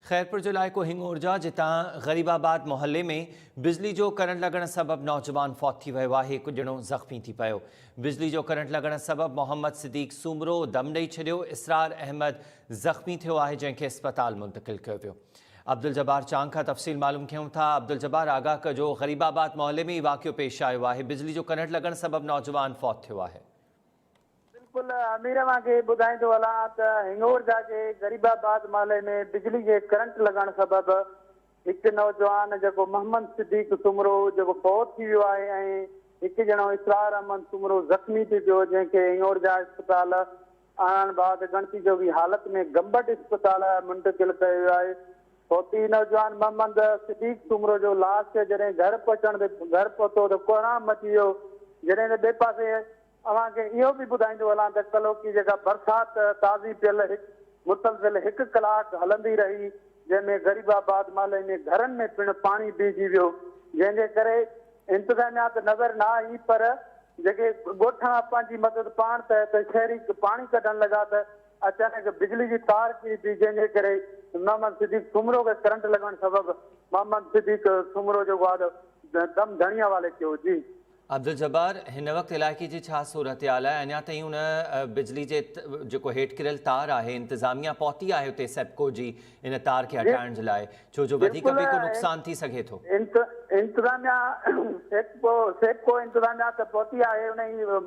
خيرپور جو علائقو هنڱورجا جتان غريب آباد محلي ۾ بجلي جو ڪرنٽ لڳڻ سبب نوجوان فوت ٿي ويو آهي هڪ ڄڻو زخمي ٿي پيو بجلي جو ڪرنٽ لڳڻ سبب محمد صديق سومرو دم ڏئي ڇڏيو اسرار احمد زخمي ٿيو آهي جنهن کي اسپتال منتقل ڪيو ويو عبدالجبار چانگ کان تفصيل معلوم ڪيون ٿا عبدالجبار آگاهه ڪجو غريب آباد محلي ۾ هي واقعو پيش آيو آهي بجلي جو ڪرنٽ لڳڻ سبب نوجوان فوت ٿيو آهي بلڪل امير اوهان کي ٻڌائيندو هلان ته هنڱور جا جي غريب آباد محلي ۾ بجلي جي ڪرنٽ لڳڻ سبب هڪ نوجوان جيڪو محمد صديق سومرو جيڪو فوت ٿي ويو آهي ۽ هڪ ڄڻو اسرار احمد سومرو زخمي ٿي پيو جنهن کي هنڱور جا اسپتال آڻڻ بعد ڳڻتي جوڳي حالت ۾ گمبٽ اسپتال منتقل ڪيو ويو آهي فوتي نوجوان محمد صديق سومرو جو لاش جڏهن گهر پهچڻ تي گهر پهتو ته ڪوهرام مچي ويو جڏهن ته ٻئي پاسي اوهان کي اهو به ٻڌائيندو هلان ته ڪلهوڪي جيڪا برسات تازي پيل هڪ مسلسل هڪ ڪلاڪ هلندي رهي جنهن ۾ غريب آباد محلي ۾ گهرن ۾ پڻ پاڻي بيهجي ويو جنهن جي ڪري انتظاميا ته نظر نه آئي پر جيڪي ڳوٺاڻا پنهنجي مدد پاڻ ته ته شهري پاڻي ڪڍڻ لڳا ته اچانڪ بجلي جي تار ڪري پئي جنهن جي ڪري محمد صديق سومرو کي ڪرنٽ لڳڻ سبب محمد صديق سومرو جيڪو آهي دم ڌڻي حوالي ٿيو جي. عبدالجبار، هن وقت علائقي جي ڇا صورتحال آهي؟ اڃا تائين ان بجلي جي جيڪو هيٺ ڪريل تار آهي انتظاميا پهتي آهي اتي سيپڪو جي ان تار کي هٽائڻ جي لاء ڇو جو وڌيڪ به ڪو نقصان ٿي سگهي ٿو. انتظاميا سيپڪو انتظاميا ته پهتي آهي انهي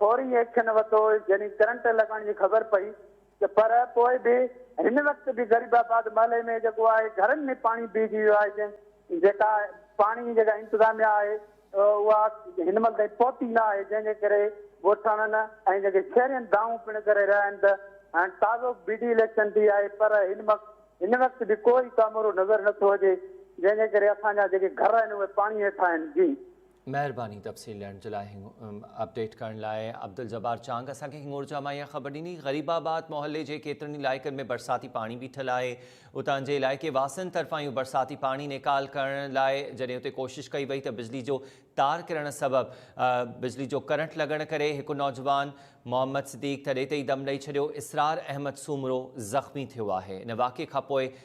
فوري ايڪشن ورتو جڏهن ڪرنٽ لڳڻ جي خبر پئي ته پر پوء به هن وقت به غريب آباد محلي ۾ جيڪو آهي گهرن ۾ پاڻي بيهجي ويو آهي جنهن جيڪا پاڻي جي جيڪا انتظاميا آهي اها هن مهل تائين پهتي نه آهي جنهن جي ڪري ڳوٺاڻن ۽ جيڪي شهرين دانهون پڻ ڪري رهيا آهن ته هاڻي تازو بي ڊي اليڪشن ٿي آهي پر هن وقت هن وقت به ڪو ئي ڪامورو نظر نٿو اچي جنهن جي ڪري اسان جا جيڪي گهر آهن اهي پاڻي هيٺان آهن جي. مهرباني تفصيل ڏيڻ جي لاء اپڊيٽ ڪرڻ لاء عبدالجبار چانگ اسان کي هنڱورجا مان اها خبر ڏني غريب آباد محلي جي ڪيترن ئي علائقن ۾ برساتي پاڻي بيٺل آهي اتان جي علائقي واسين طرفان اهو برساتي پاڻي نيڪال ڪرڻ لاء جڏهن اتي ڪوشش ڪئي وئي ته بجلي جو تار ڪرڻ سبب بجلي جو ڪرنٽ لڳڻ ڪري هڪ نوجوان محمد صديق ته ڏيتي ئي دم ڏئي ڇڏيو اسرار احمد سومرو زخمي ٿيو آهي ان واقعي کانپوء